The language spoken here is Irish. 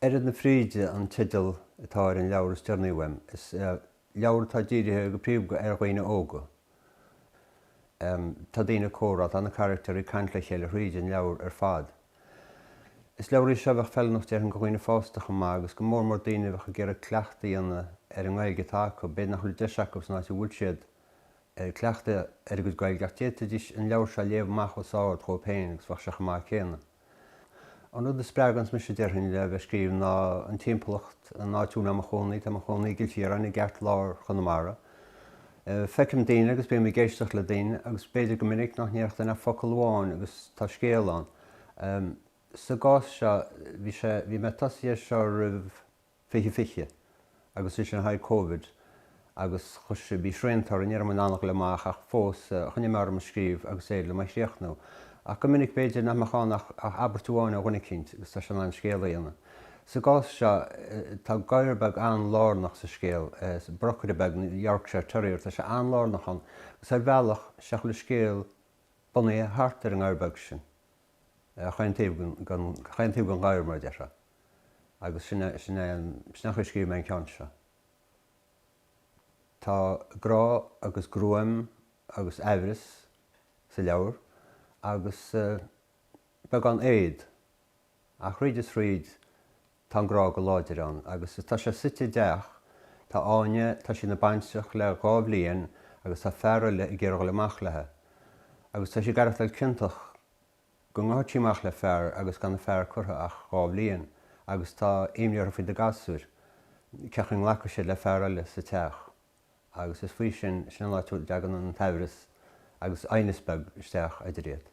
Oiread na Fríde an teideal atá ar an leabhar is deireanaí uaim. Is leabhar é atá dírithe go príomha ar dhaoine óga. Tá daoine ag comhrá, tá na caractair ag caint le chéile thríd an leabhar ar fad. Is leabhar í seo a bheadh feiliúnach déarfainn go dhaoine fásta chomh maith agus go mór mór daoine a bheadh ag iarraidh cleachtadh a dhéanamh ar an nGaeilge atá acu. B'fhéidir nach bhfuil deis acu san áit a bhfuil siad cleachtadh a dhéanamh ar a gcuid Gaeilge ach d'fhéadfaidís an leabhar seo a léamh amach os ard dhóibh féin agus bheadh sé chomh maith céanna. An rud a spreaganns mise déarfainn le bheith ag scríobh ná an timpeallacht, an áit a bhfuil mé i mo chónaí, tá mé i mo chónaí i gCill Chiaráin i gceart lár Chonamara. Feicim daoine agus bím ag éisteacht le daoine agus b'fhéidir go minic nach ndéarfadh duine ach focal amháin agus tá scéal ann. Sa gcás seo bhí sé, bhí mé tosaithe seo roimh 2020 agus ansin tháinig Covid agus chuir sé, bhí srianta orainn, ní raibh muid in ann a ghoil amach ach fós choinnigh mé orm ag scríobh agus d'éirigh liom é a chríochnú. Ach go minic b'fhéidir nach mbeadh ann ach abairt amháin ó dhuine eicínt agus tá sé in ann scéal a dhéanamh. Sa gcás seo tá gadhar beag an-lárnach sa scéal, brocaire beag, Yorkshire Terrier, tá sé an-lárnach ann agus ar bhealach, tá chuile scéal bunaithe thart ar an ngadhar beag sin. chaon taobh den ghadhar mar a déarfá agus sin é sin é an chaoi a scríobh mé an ceann seo. Tá grá agus gruaim agus amhras sa leabhar agus beagán éad ach thríd is thríd Tá an grá go láidir ann agus is tá sé suite i dteach. Tá Áine, tá sí ina baintreach le dhá bhliain agus tá fear eile ag iarraidh dhul amach leithe. Agus tá sí ag aireachtáil ciontach go ngothfad sí amach le fear agus gan a fear curtha ach dhá bhliain agus tá imní uirthi faoi na gasúir, ce'cu nglacfaidh siad le fear eile sa teach. Agus is faoi sin, sin an áit a dtagann an t-amhras agus aighneas beag isteach eidir iad.